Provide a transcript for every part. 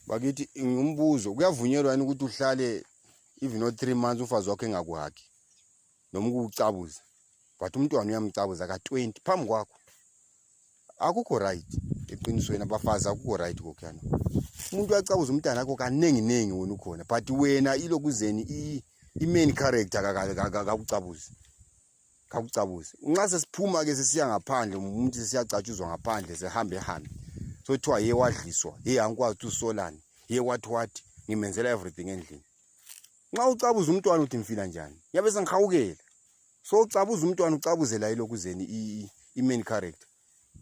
bakithi ngumbuzo kuyavunyelwa yini ukuthi uhlale even o three months umfazi wakho engakuhagi noma ukuwucabuza but umntwana uyamcabuza ka-twenty phambi kwakho akukho right eqinisweni abafazi akukho right kokhuyana umuntu uyacabuza umntana akho kaninginingi wena ukhona but wena ilokuzeni i-main character kakucabuzi kakucabuse nxa sesiphuma ke sisiya ngaphandle umuntu sesiyacatshuzwa ngaphandle sehambe hambe sothiwa ye wadliswa ye angikwazi ukuthi usolani ye wathi wathi ngimenzela everything endlini nxa ucabuza umntwana uthi ngifila njani yabe sengihawukela so ucabuza umntwana ucabuzela yilokhu zeni i-main character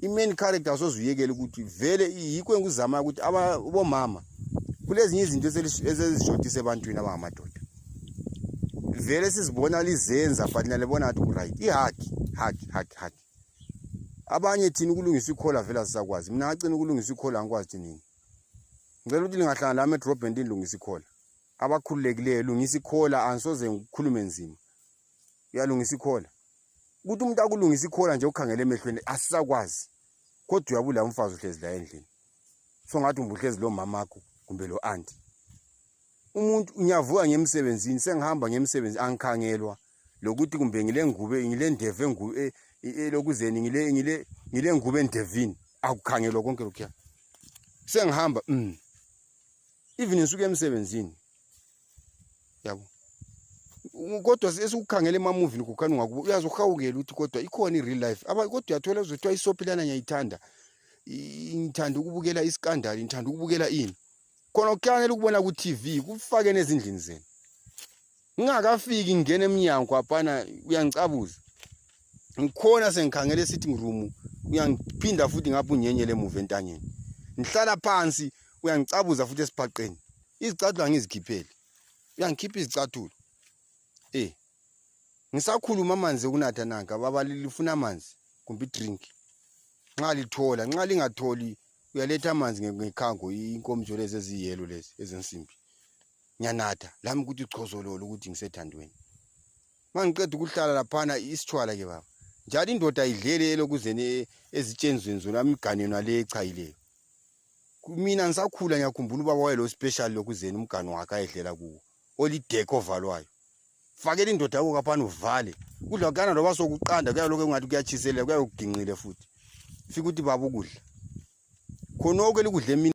i-main character sozuyekela ukuthi vele yikho engikuzamayo ukuthi abomama kulezinye izinto esezishodisa ebantwini abangamadoda vele sizibona lizenza but nalibona ngathi kuright ihaki haki haki haki abanye thina ukulungisa ikhola vele asisakwazi mina ngacina ukulungisa ikhola angikwazi thi nini ngicela ukuthi lingahlangana lami edrobheni ndilungisa ikhola abakhululekileyo lungisa ikhola angisoze ngikhulume nzima uyalungisa ikhola ukuthi umuntu akulungisa ikhona nje ukhangele emehlweni asisakwazi kodwa uyabula umfazi uhlezi la endlini so ngathi umbuhlezi lo mamakho kumbe lo anti umuntu unyavuka ngemsebenzini sengihamba ngemsebenzi angikhangelwa lokuthi kumbe ngile ngube ngile ndevu engube e, e, elokuzeni ngile ngile ngile ngube endevini akukhangelwa konke lokhuya sengihamba mm even ngisuke emsebenzini yabo kodwa esikukhangela emamuvini kukhani ungakubo uyazi uhawukela ukuthi kodwa ikhona i-real life kodwa uyathola uzothiwa isophilana ngiyayithanda ngithanda ukubukela isikandali ngithanda ukubukela ini khona kuhlanganela ukubona ku-tv kufake nezindlini zenu ngingakafiki ngingena emnyango apana uyangicabuza ngikhona sengikhangela e-sitting room uyangiphinda futhi ngapha unyenyele emuva entanyeni ngihlala phansi uyangicabuza futhi esibhaqeni izicathulo angizikhiphele uyangikhipha izicathulo eh ngisakhuluma amanzi okunatha nanka baba lifuna amanzi kumbe idrink nxa lithola nxa lingatholi uyaletha amanzi ngekhango inkomitsho lezi eziyelo lezi ezensimbi ngiyanatha lami ukuthi uchozololo ukuthi ngisethandweni ma ngiqeda ukuhlala laphana isitshwala ke baba njalo indoda idlele elokuzeni ezitshenzweni zona amigane yona le echayileyo mina ngisakhula ngiyakhumbula ubaba wayelo special lokuzeni umgani wakhe ayedlela kuwo olideke ovalwayo fakela indoda yakho kaphani uvale kudla kuyana loba sokuqanda kuyaloke kungathi kuyatshiselela kuyayokuginqile futhi fika ukuthi baba ukudla khonoko elikudla emini